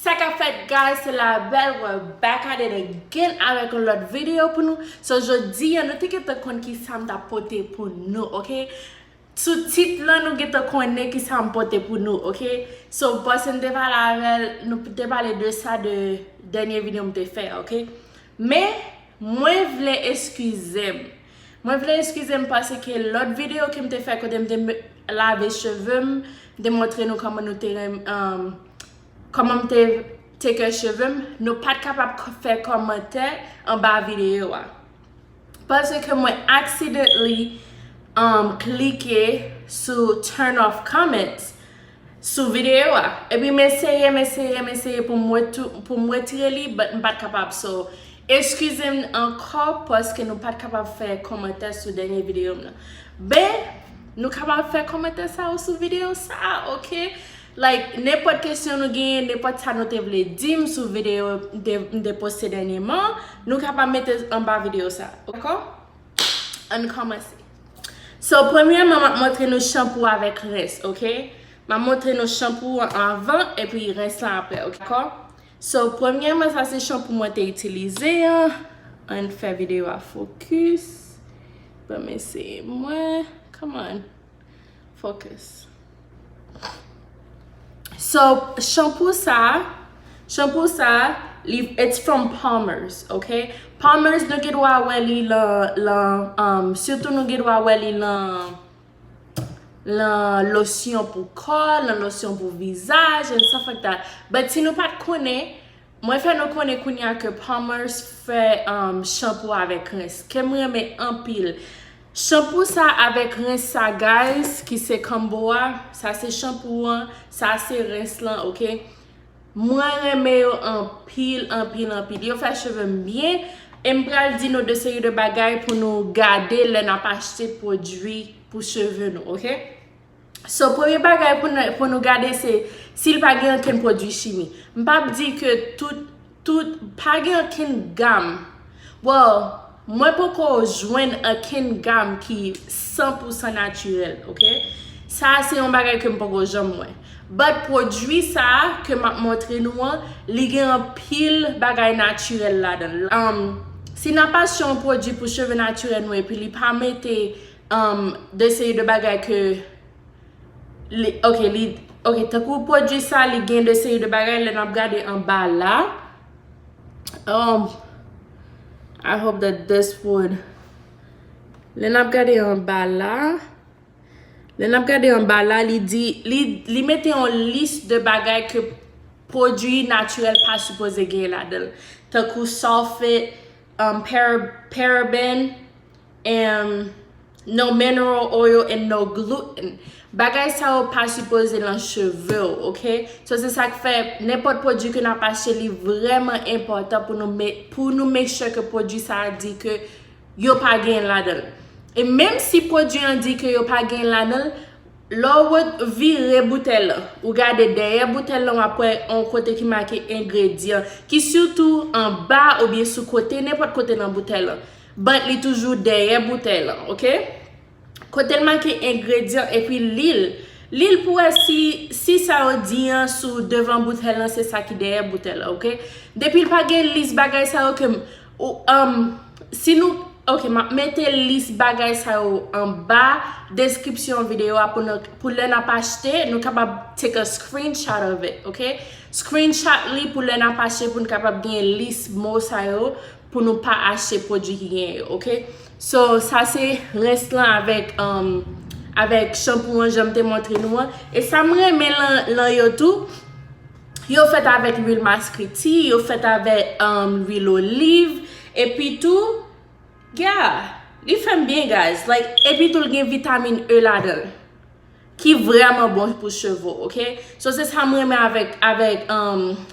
Sa kap fèt guys se la belle we're back at it again avèk yon lòt video pou nou so jodi an nou te gentan konn kisam tap pote pou nou ok sou tit lan nou gentan konnen kisam pote pou nou ok so boss m te pale avèl nou te pale de sa de dènye video m te fè ok men mwen vle eskizem. Mwen vle eskize m pase ke lòt video ke m te fè kote m te lave cheve m, m te montre nou kòman nou te renmn, kòman m te take care cheve m, nou pat kapab fè kòmantè anba video a. Pase ke mwen accidentally klike sou turn off comments. sou video a epi m eseye m eseye m eseye pou m retire li but m pat kapab so eskize m ankò paske nou pat kapab fè kòmantè sou dènye video m nan ben nou kapab fè kòmantè sa ou sou video sa ok like nenpòt kesyon nou genyen nenpòt sa nou te vle di m sou video m te poste dènyeman nou kapab mete l anba video sa ok. Ann kòmanse. So premyèman map montre nou chanpou avèk rens ok. Map montre nou chanpou an avan epi rens lan aprè ok. Dakò? So premyèman sa se chanpou mwen te itilize an. Ann fè videyo a fokis. Banm eseye mwen. Come on. Focus. So, shampoo sa, shampoo sa, li, it's from Palmer's, ok? Palmer's nou gen dwa wè li lan, lan, um, sitou nou gen dwa wè li lan, lan losyon pou kò, lan losyon pou vizaj, and stuff like that. But si nou pat konnen, Mwen fè nou konnen kounya ke Palmer's fè shampoo avèk rens kem renmen anpil Shampoo sa avèk rens sa guys ki se combo a sa se shampoo an sa se rens lan ok Mwen renmen yo anpil anpil anpil yo fè chevem byen em pral di nou de seri de bagay pou nou gade lè nap achte pwodwi pou cheve nou ok. So premye bagay pou nou gade se si l pa gen ankenn pwodui chimi. M pa p di ke tout, tout, pa gen ankenn gam, well, mwen poko jwenn ankenn gam ki san pou san natirèl, ok. Sa a se yon bagay ke m poko janm wè. But pwodui sa a ke m ap montre nou an, li gen anpil bagay natirèl ladan l. Se nan pa se yon pwodui pou cheve natirèl nou epi li pa mete Umm de seri de bagay ke li ok li ok tankou pwodwi sa li gen de seri de bagay lè nap gade anba la umm I hope that this would lè nap gade anba la lè nap gade anba la li di li mete yon lis de bagay ke pwodwi natirèl pa sipoze gen ladanl tankou sulfate umm paraben Em, No mineral oil and no gluten Bagay sa yo pa sipoze lan cheve w ok So se sak fè nenpòt pwodwi ke nap achte li vrèman enpòtan pou nou met pou nou make sure ke pwodwi sa a di ke yo pa genyen ladan l E menm si pwodwi an di ke yo pa genyen ladan l Lè w ret vire boutèy lan ou gade dèyè boutèy lan wap wè on kote ki make engredyan ki sitou anba oubyen sou kote nenpòt kote nan boutèy lan But li toujou dèyè boutèy lan ok. Kotel make engredyan epi lil lil pou wè si si sa yo di an sou devan boutèy lan se sa ki dèyè boutèy lan ok. Depil pa gen lis bagay sa yo ke m um si nou ok map mete lis bagay sa yo anba deskripsyon videyo a pou lè nap achte nou kapab take a screenshot of it ok. Screenshot li pou lè nap achte poun kapab gen lis mo sa yo. pou nou pa achte pwodwi ki genyen yo ok so sa se rens lan avèk um avèk chanpou an janm te montre nou an e sa m renmen lan yo tou yo fèt avèk lwil maskriti yo fèt avèk um lwil oliv epi tou yeah li fè m byen guys like epi tou l gen vitamin E ladan l. Ki vreman bon pou cheve ok. So se sa m renmen avek avek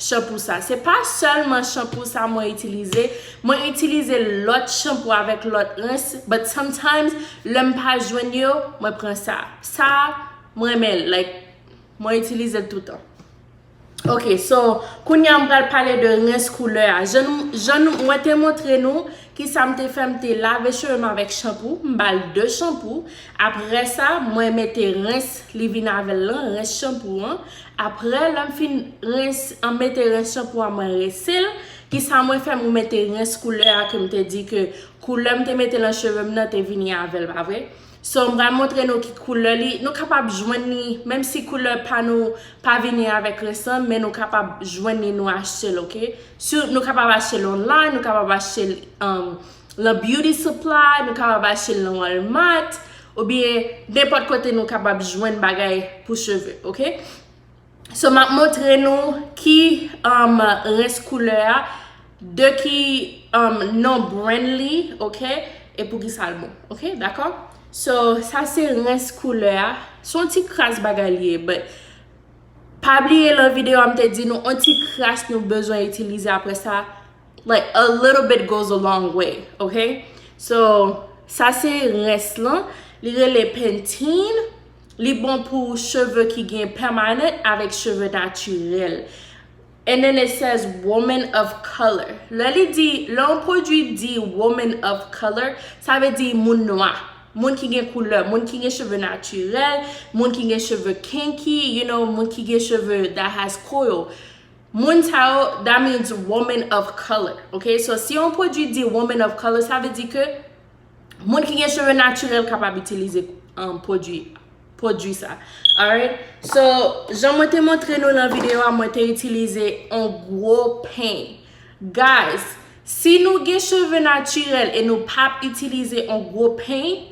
shampoo sa. Se pa selman shampoo sa mwen itilize. Mwen itilize lot shampoo avek lot rens. But sometimes le m pa jwenn yo mwen pran sa. Sa mwen renmen l like mwen itilize l toutan. Ok so kounya m pral pale de rens koulè a jan nou mwen te montre nou kisa m te fè m te lave cheve m avèk chanpou m bal 2 chanpou aprè sa mwen mete rens li vin avèl lan rens chanpou an aprè lè m fin rens an mete rens chanpou an mwen rense l kisa mwen fè mwen mete rens koulè a ke m te di ke koulè m te mete lan cheve m nan te vini avèl pa vre. So m pral montre nou ki koulè li, nou kapab jwenn li menm si koulè pa nou pa vini avèk resan men nou kapab jwenn li nou achte l ok. Sou nou kapab achte l online, nou kapab achte l lan beauty supply, nou kapab achte l lan walmart oubyen nenpòt kote nou kapab jwenn bagay pou cheve ok. So map montre nou ki rens koulè a, de ki non brand li ok e pou ki sal bon ok dakò. So sa se rens koulè a, son ti kras bagay li ye but pa bliye lan video a mte di nou on ti kras nou bezwen itilize aprè sa like a little bit goes a long way ok. So sa se rens lan li rele pentene. Li bon pou cheve ki gen permanent avèk cheve natirèl. And then it says woman of color. Lè li di, lè yon pwodwi di woman of color, sa vle di moun nwa, moun ki gen koulè, moun ki gen cheve natirèl, moun ki gen cheve kinky, you know, moun ki gen cheve that has coil. Moun sa yo, that means woman of color, ok? So, si yon pwodwi di woman of color, sa vle di ke, Moun ki gen cheve natirèl kapab itilize um, pwodui, pwodui sa. Alright? So, jan mwen te montre nou nan videyo a, mwen te itilize on gwo peny. Guys, si nou gen cheve natirèl e nou pap itilize on gwo peny,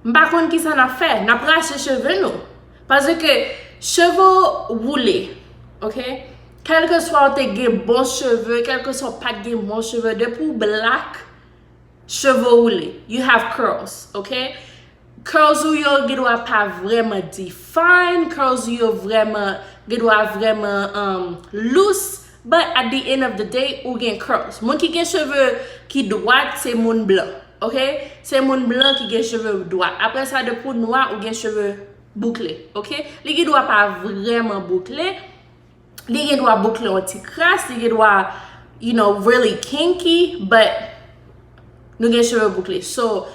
m pa konn kisa n ap fè. N ap rache cheve nou. Paske cheve ou woule, ok? Kèlkeswa ou te gen bon cheve, kèlkeswa ou pat gen bon cheve, depi ou blak, Cheve woule, you have curls, ok? Curls ou yo gen dwa pa vrèman define, curls ou yo vrèman, gen dwa vrèman um, loose, but at the end of the day, ou gen curls. Moun ki gen cheve ki dwat, se moun blan, ok? Se moun blan ki gen cheve dwat. Apre sa, depi ou nwa, ou gen cheve boukle, ok? Li gen dwa pa vrèman boukle, Li gen dwa boukle yon ti kras, li gen dwa, you know, really kinky, but nou gen cheve boukle. So,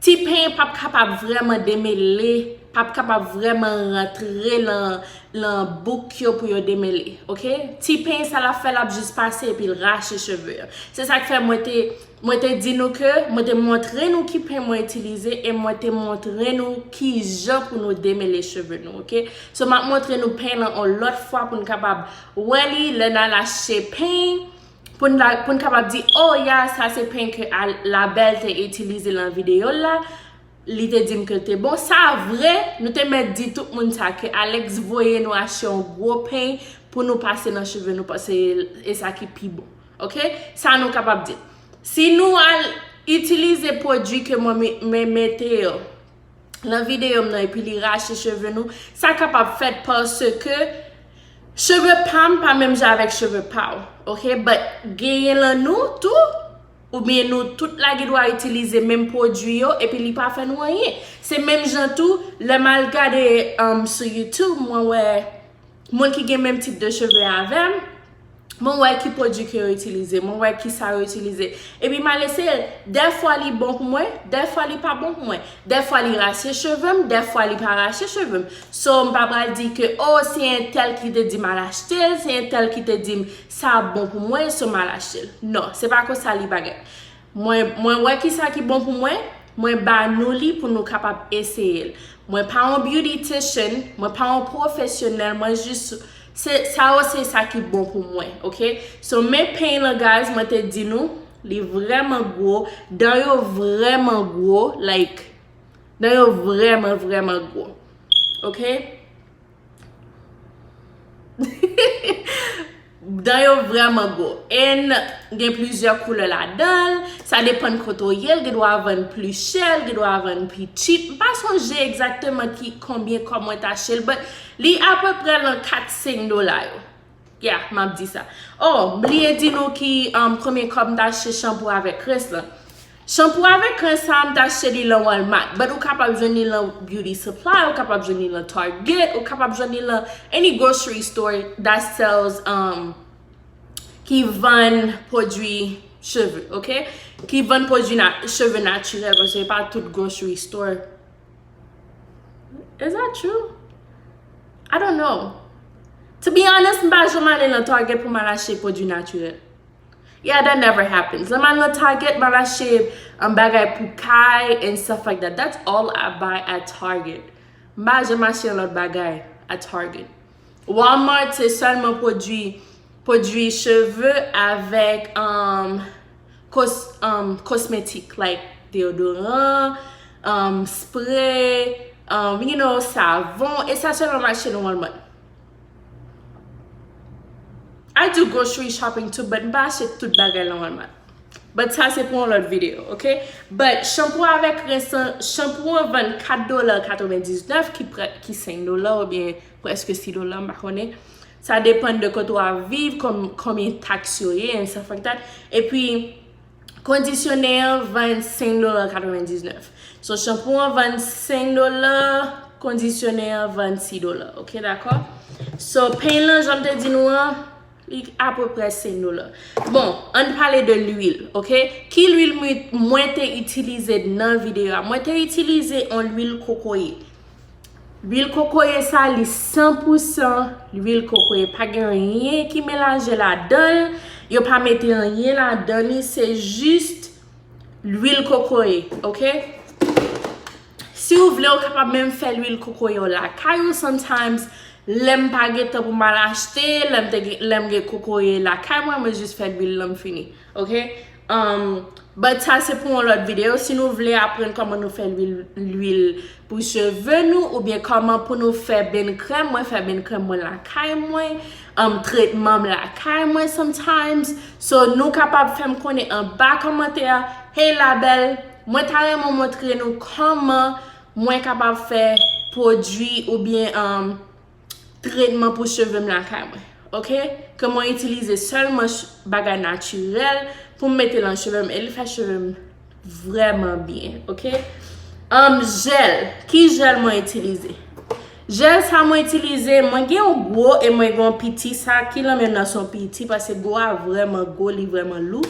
ti penyen pap kapab vreman demele, pap kapab vreman rantre lan bouk yo pou yo demele, ok? Ti penyen sa lap fè, lap jis pase epi l rache cheve yo. Se sak fè mwen te... Mwen te di nou ke mwen te montre nou ki pen mwen itilize e mwen te montre nou kijan pou nou demele cheve nou ok so map montre nou pen lan on lòt fwa poun kapab wè li lè nal achte pen poun kapab di oh ya sa se pen ke la belle te itilize lan videyo l la li te dim kel te bon sa vre nou te mèt di tout moun sa ke Alex voye nou achte on gwo pen pou nou pase nan cheve nou paske esa ki pi bon. Ok, sa nou kapab di. Si nou al itilize pwodui ke mwen mete yo nan videyo m nan epi li rache cheve nou, sa kapab fèt paske cheve pa m pa menm jan avèk cheve pa w. Ok, but genyen lan nou tou oubyen nou tout la gendwa itilize menm pwodui yo epi li pa fè nou anyen. Se menm jan tou lè m al gade sou youtube mwen wè. Moun ki gen menm tip de cheve avèm, mwen wè ki pwodwi ke yo itilize, mwen wè ki sa yo itilize. E pi mal eseye, dè fwa li bon pou mwen, dè fwa li pa bon pou mwen. Dè fwa li rache chevem, dè fwa li pa rache chevem. So m pa pral di ke oh se entèl ki te di m al achtel, se entèl ki te di m sa ap bon pou mwen so m al achtel. Non, se pa konsa li bagay. Mwen, mwen wè kisa ki bon pou mwen, mwen ba nou li pou nou kapab eseye l. Mwen pa yon beautytician, mwen pa yon pwofesyonèl, mwen jis, se, sa yo se sa ki bon pou mwen, ok. So, men peny lan guys, mwen te di nou, li vrèman gwo, dan yo vrèman gwo, like, dan yo vrèman, vrèman gwo. Ok. Dan yo vreman gwo en gen plizyè koulè ladanl, sa depan kote ou yel, gen dwa vann pli chè, gen dwa vann pi tchip, m pa sonje egzakteman ki konbyen kòb mwen t achtel but li apeprè lan 4 5 dola yo. Yeah, map di sa. Oh, m bliye di nou ki premye kòb m t achte shampoo avèk rens lan. Shampoo avèk rens sa a m t achte li lan Walmart, but ou kapab jwenn li lan Beauty Supply, ou kapab jwenn li lan Target, ou kapab jwenn li lan any grocery store that sells, umm, ki vann pwodwi cheve, ok? Ki vann pwodwi na, cheve natirèl, paske e pa tout grocery store. Is that true? I don't know. To be honest, m pa janm ale nan Target pou m al achte pwodwi natirèl. Yeah, that never happens. Lè m al nan Target, m al achte bagay pou kay and stuff like that. That's all I buy at Target. M pa janm achte lòt bagay at Target. Walmart se sèlman pwodwi, pwodwi cheve avèk, um, Kosmetik like deodoran, spray, you know, savon, e sa sèlman mache nan Walmart. I do grocery shopping too but m pa achte tout bagay nan Walmart. But sa se pou yon lòt video, ok? But shampoo avèk rens lan, shampoo an vann 4 dola 99 ki 5 dola oubyen preske 6 dola m pa konnen. Sa depann de kote w ap viv, konbyen taks yo ye, and stuff like that. E pi, kondisyone an vann 5 dola 99. So, chanpou an vann 5 dola, kondisyone an vann 6 dola. Ok, dakò? So, peny lan, jan m te di nou an, li apopre 5 dola. Bon, an n pale de lwil, ok? Ki lwil mwen te itilize nan videyo a? Mwen te itilize yon lwil kokoye. Lwil kokoye sa li 100 pou 100 lwil kokoye pa gen anyen ki melanje ladanl yo pa mete anyen ladan li se jist lwil kokoye ok si ou vle ou kapab menm fè lwil kokoye ou lakay ou sometimes lèm pa gen tan pou mal achte lèm gen kokoye lakay mwen mwen jis fè lwil lan m fini. Ok Umm But sa se pou yon lòt video si nou vle aprann kòman nou fè lwil pou cheve nou oubyen kòman pou nou fè benn krèm mwen fè benn krèm mwen lakay mwen Umm tretman m lakay mwen sometimes So nou kapab fèm konnen anba kòmantè a Hey la belle Mwen ta renmen w montre nou kòman mwen kapab fè pwodwi oubyen umm tretman pou cheve m lakay mwen ok ke mwen itilize selman bagay natirèl pou m mete lan cheve m e li fè cheve m vrèman byen ok anm jèl ki jèl mwen itilize jèl sa mwen itilize mwen gen yon gwo e mwen gen yon piti sa ki lan menm nan son piti paske gwo a vrèman gwo li vrèman lou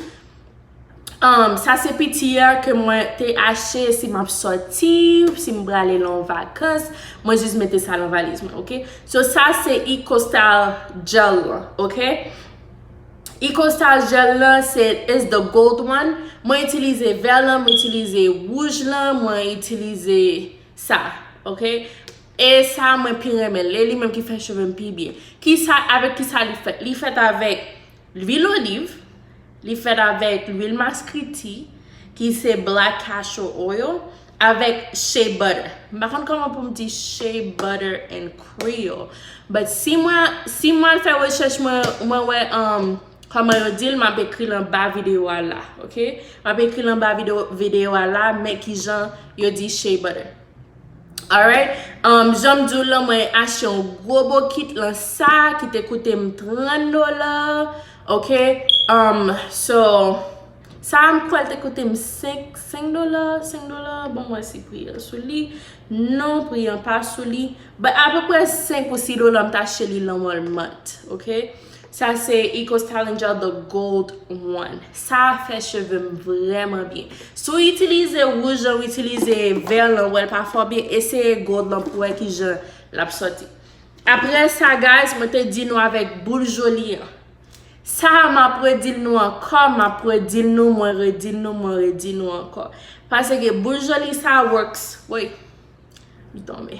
Umm sa se piti a ke mwen te achte si map soti, si m prale lan vakans, mwen jis mete sa lan valiz mwen ok. So sa se Icostar gel lan ok. Icostar gel lan se is the gold one, mwen itilize vè lan, mwen itilize wouj lan, mwen itilize sa ok. E sa mwen pi renmen, e li menm ki fè cheve m pi byen. Kisa, avèk kisa li fèt? Li fèt avèk. Lwil oliv, li fèt avèk lwil maskriti ki se black castor oil avèk shea butter. M pa konn kòman pou m di shea butter in creole but si mwen si mwen al fè rechèch mwen mwen wè kòman yo di l m ap ekri l anba videyo a la ok. M ap ekri l anba videyo a la men kijan yo di shea butter. Alright, um janm diw lan mwen achte yon gwo bokit lan sa ki te koute m 30 dola ok um so sa a m kwè l te koute m 5 5 dola 5 dola banm wè si pri an sou li non pri an pa sou li but apeprè 5 ou 6 dola m t achte li lan walmart ok. Sa se Ecostyling Gel the Gold One. Sa a fè cheve m vrèman byen. Si w itilize wouj lan, w itilize vè lan, wè l pa fè w byen, eseye gold lan pou wè ki jan l ap soti. Apre sa guys, mwen te di nou avèk boul Jolie an. Sa a m ap redi l nou ankò, m ap redi l nou, mwen redi l nou, mwen redi l nou ankò. Paseke boul Jolie sa a works. Woy! Li tonbe.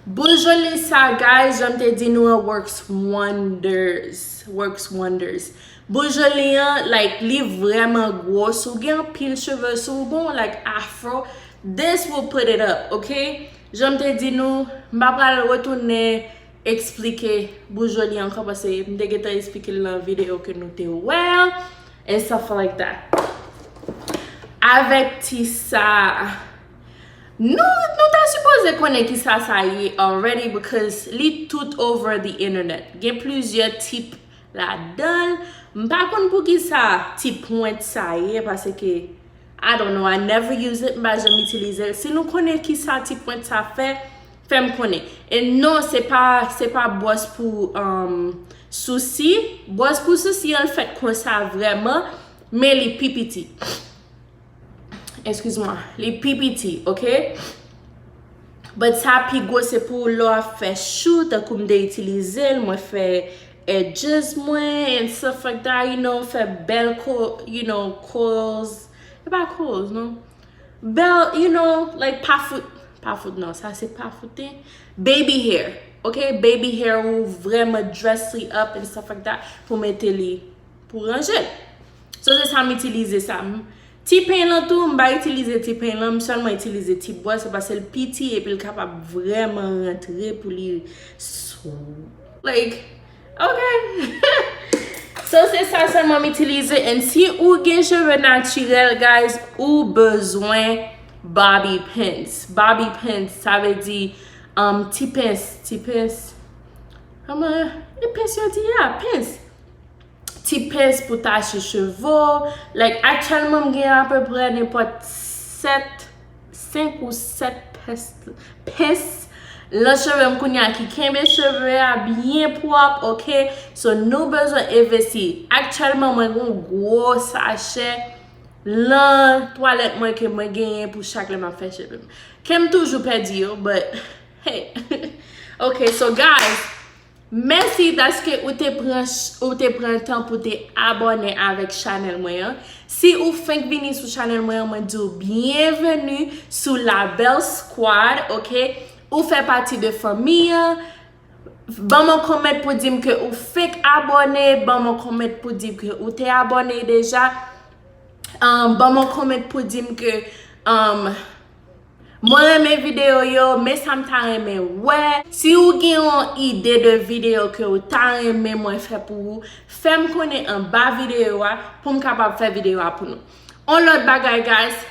Bonjou Lisa guys janm te di nou an works wonders works wonders Bonjou li an like li vreman gwo si w gen anpil cheve si w gen yon like afro this will put it up ok janm te di nou m pa pral retounen eksplike Bonjou li an ankò paske m te gentan eksplike l nan video ke nou te wè an and stuff like that avèk ti sa. Nou nou ta sipoze konnen kisa sa ye already because li tout over the internet. Gen plizyè tip ladan l. M pa konn poukisa ti pwent sa ye paske I don't know I never use it m pa janm itilize l. Si nou konnen kisa ti pwent sa fè, fè m konnen. E non se pa se pa bwòs pou sousi. Bwòs pou sousi an fèt konsa vrèman men li pi piti. Excuse moi. Li pi piti, ok? But sa pi gwo se pou lè w ap fè chou, tankou m te itilize l, mwen fè edges mwen and stuff like that, you know, fè bèl ko, you know, curls, e pa curls non, bèl, you know, like pa fout, pa fout non, sa se pa foute, baby hair, ok, baby hair ou vrèman dress li up and stuff like that pou mete li, pou ranje l. So se sa m itilize sa. Ti pen lan tou m pa itilize ti pen lan m sèlman itilize ti bwa se paske l piti epi l kapab vrèman rantre pou li like ok So se sa sèlman m itilize and si ou gen cheve natirèl guys ou bezwen bobby pins bobby pins sa vle di ti pens ti pens kòman e pens yo di a pens. ti pens pou tache cheve w, like aktyèlman m gen apeprè nenpòt 7, 5 ou 7 pens pens lan cheve m kounye a ki kenbe cheve a byen pwòp ok, so nou bezwen envesti, aktyèlman mwen gen yon gwo sachè lan twalèt mwen ke mwen genyen pou chak lè m ap fè cheve m, ke m toujou pèdi yo but hey ok so guys. Mèsi paske ou te pran ou te pran tan pou te abòne avèk chanèl mwen an. Si ou fenk vini sou chanèl mwen an mwen di w byenveni sou la belle squad ok ou fè pati de fanmi an ban m yon kòmèt pou di m ke ou fenk abòne ban m yon kòmèt pou di ke ou te abòne deja ban m yon kòmèt pou di m ke Mwen renmen video yo, men sa m ta renmen wè. Si ou gen yon ide de video ke ou ta renmen mwen fè pou ou, fè m konnen anba video a pou m kapab fè video a pou nou. On lòt bagay guys,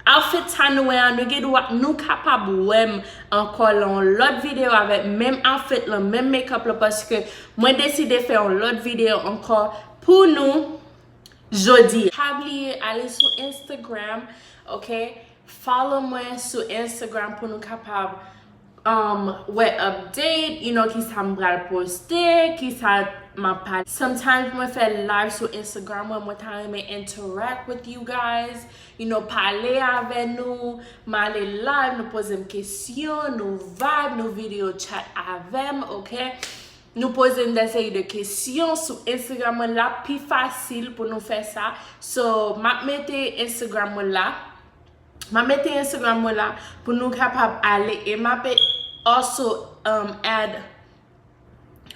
outfit sa nou wè an, nou gen dwa, nou kapab wè m ankò lan yon lòt video avèk menm outfit lan, menm makeup lan paske mwen deside fè yon lòt video ankò pou nou. jodi. Pa bliye ale sou Instagram ok follow mwen sou Instagram pou nou kapab um wè update you know kisa m pral poste kisa map pale sometimes mwen fè live sou Instagram mwen mwen ta renmen interact with you guys you know pale avè nou m ale live nou poze m kesyon nou vibe nou video chat avè m ok. Nou poze nou de seri de kesyon sou Instagram mwen lap pi fasil pou nou fè sa. So map mete Instagram mwen la. Map mete Instagram mwen la pou nou kapab ale e map also add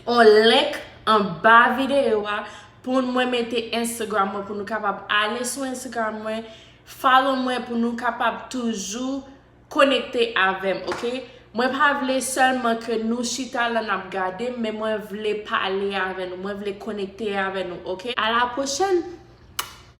on link anba videyo a pou mwen mete Instagram mwen pou nou kapab ale sou Instagram mwen follow mwen pou nou kapab toujou Konekte avèm ok mwen pa vle sèlman ke nou chita la nap gadem men mwen vle pale avè nou mwen vle konekte avè nou ok a la pwochèn.